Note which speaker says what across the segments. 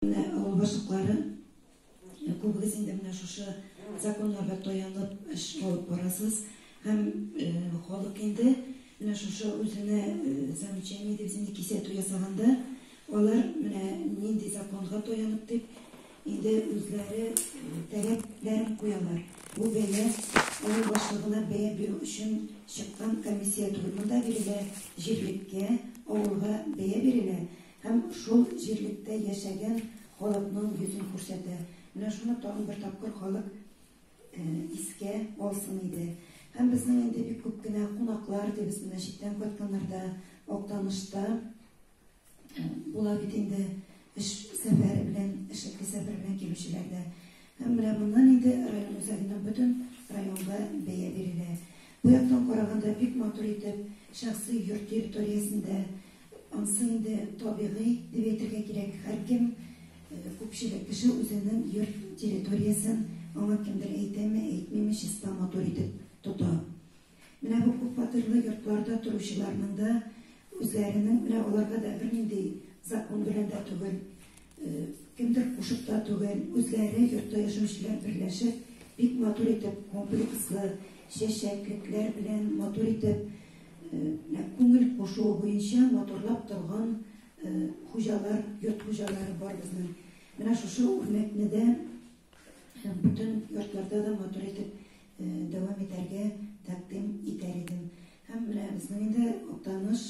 Speaker 1: Менә авыл башлыклары, күбегез инде менә шушы законнарга таянып эш алып барасыз һәм халык инде менә шушы үзенә замечание дип үзенә кисәтү ясаганда, алар менә нинди законга таянып дип инде үзләре таләпләрен куялар. Бу бәя авыл башлыгына бәя бирү өчен чыккан комиссия түгел, монда бирелә җирлеккә, авылга бәя бирелә Һәм шул җирлектә яшәгән халыкның йөзен күрсәтә. Менә шуны тагын бер тапкыр халык искә алсын иде. Һәм безнең инде бик күп кенә кунаклар дибез, менә читтән кайтканнар да Актанышта була бит инде эш сәфәре белән, эшлекле сәфәр белән килүчеләр дә. Һәм менә моннан инде район үзәгенең бөтен районга бәя бирелә. Бу яктан караганда бик матур итеп шәхси йорт территориясендә Ансы инде табигый дип әйтергә кирәк, һәркем, күпчелек кеше үзенең йорт территориясен, аңа кемдер әйтәме, әйтмиме, чиста, матур итеп тота. Менә бу күп фатирлы йортларда торучыларның да үзләренең, менә аларга да бернинди закон белән дә түгел, Кемдер кушып та түгел, үзләре йортта яшәүчеләр берләшеп, бик матур итеп комплекслы чәчәклекләр белән матур итеп күңел кушуы буенча матурлап торган хуҗалар, йорт хуҗалары бар безнең. Менә шушы үрнәкне дә бөтен йортларда да матур итеп дәвам итәргә тәкъдим итәр идем. Һәм менә безнең инде Актаныш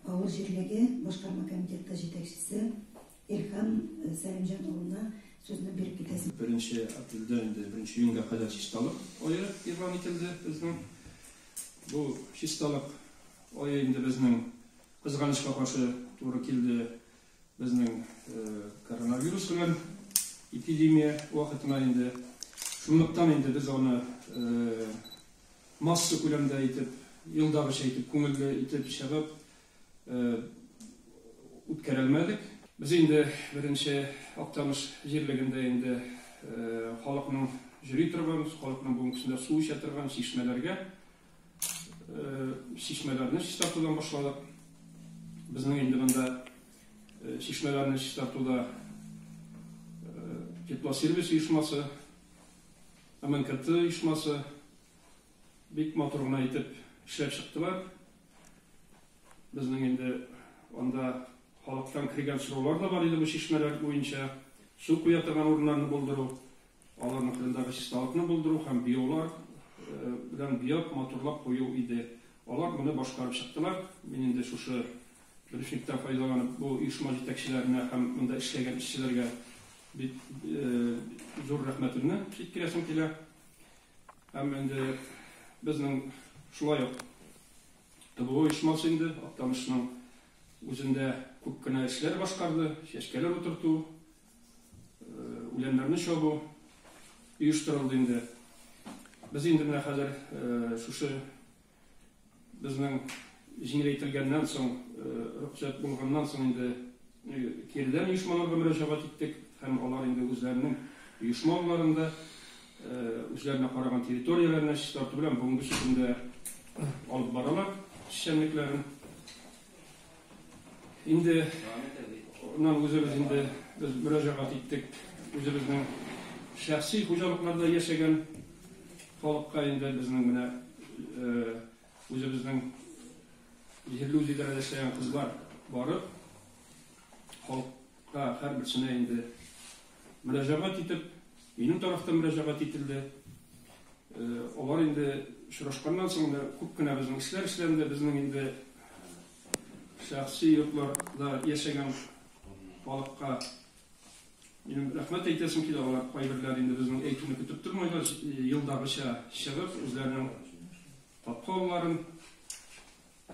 Speaker 1: авыл җирлеге башкарма комитеты җитәкчесе Илһам Сәлимҗан улына сүзне биреп китәсен. Беренче апрельдән
Speaker 2: инде беренче июньгә кадәр чисталык ае игълан ителде безнең. Бу чисталык ае инде безнең кызганычка каршы туры килде безнең коронавирус белән эпидемия вакытына инде. Шунлыктан инде без аны Масса күләмдә итеп, елдагыча итеп, күңелле итеп чыгып үткәрә алмадык. Без инде беренче Актаныш җирлегендә инде халыкның йөри торган, халыкның бүгенгесендә су эчә торган чишмәләргә, чишмәләрне чистартудан башладык. Безнең инде монда чишмәләрне чистартуда Теплосервис оешмасы, МНКТ оешмасы бик матур гына итеп эшләп чыктылар. Безнең инде анда халыктан кергән сораулар да бар иде бу чишмәләр буенча. Су куя торган урыннарны булдыру, аларның кырындагы чисталыкны булдыру һәм биолар белән биоп матурлап кую иде. Алар моны башкарып чыктылар. Мин инде шушы Дөреслектән файдаланып, бу оешма җитәкчеләренә һәм монда эшләгән эшчеләргә бик зур рәхмәтемне җиткерәсем килә. Һәм инде безнең шулай ук ТБО оешмасы инде Актанышның үзендә күп кенә эшләр башкарды, чәчкәләр утырту, үләннәрне чабу оештырылды инде. Без инде менә хәзер шушы Безнең җиңеләйтелгәннән соң, рөхсәт булганнан соң инде киредән оешмаларга мөрәҗәгать иттек һәм алар инде үзләренең оешма алларында, үзләренә караган территорияләренә чистарту белән бүгенге көндә алып баралар эшчәнлекләрен. Инде менә үзебез инде без мөрәҗәгать иттек үзебезнең шәхси хуҗалыкларда яшәгән халыкка инде безнең менә үзебезнең җирле үзидарәдә эшләгән кызлар барып халык Та, һәрберсенә инде мөрәҗәгать итеп, минем тарафтан мөрәҗәгать ителде. Алар инде очрашканнан соң да күп кенә безнең эшләр эшләнде. Безнең инде шәхси йортларда яшәгән халыкка минем рәхмәт әйтәсем килә. Алар кайберләре инде безнең әйтүне көтеп тормыйлар, елдагыча чыгып, үзләренең капка-алларын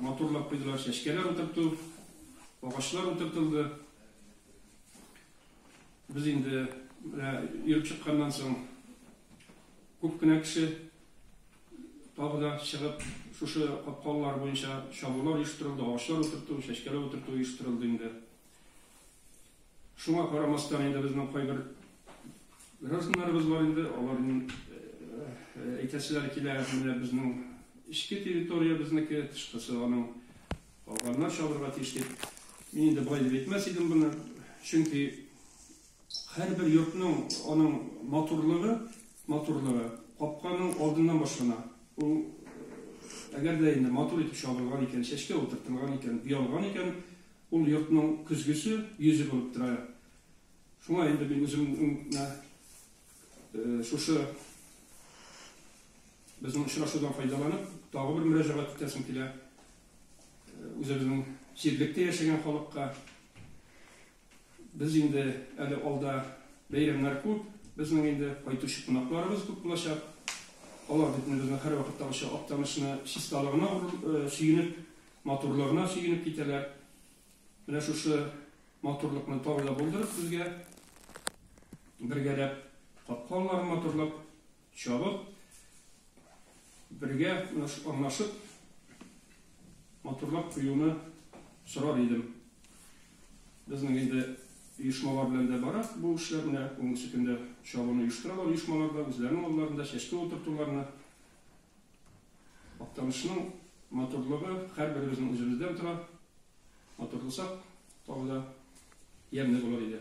Speaker 2: Матурлап куйдылар, чәчкәләр утырту, агачлар утыртылды. Без инде менә йөреп чыкканнан соң күп кенә кеше тагы да чыгып, шушы капкалар буенча чабулар оештырылды, агачлар утырту, чәчкәләр утырту оештырылды инде. Шуңа карамастан инде безнең кайбер гражданнарыбыз бар инде, аларның әйтәселәре килә, менә безнең эчке территория безнеке, тышкысы аның, калганнар чабырга тиеш дип. Мин инде болай дип әйтмәс идем моны, чөнки һәрбер йортның аның матурлыгы, матурлыгы капканың алдыннан башлана. Ул әгәр дә инде матур итеп чабылган икән, чәчкә утыртылган икән, буялган икән, Ул йортның көзгесе, йөзе булып тора. Шуңа инде мин үземне шушы безнең очрашудан файдаланып, тагы бер мөрәҗәгать итәсем килә. Үзебезнең җирлектә яшәгән халыкка без инде әле алда бәйрәмнәр күп, безнең инде кайтучы кунакларыбыз күп булачак. Алар бит безнең һәрвакыттагыча Актанышны чисталыгына сөенеп, Матурлыгына сөенеп китәләр. Менә шушы матурлыкны тагы да булдырып сезгә бергәләп капкаларын матурлап чабып, бергә аңлашып матурлап куюны сорар идем. Безнең инде оешмалар белән дә бара бу эшләр. Менә бүгенге көндә чабуны оештыралар оешмаларда, үзләренең алларында чәчкә утыртуларны Актанышның матурлыгы һәрберебезнең үзебездән тора. Матур булсак, тагы да ямьле булыр иде.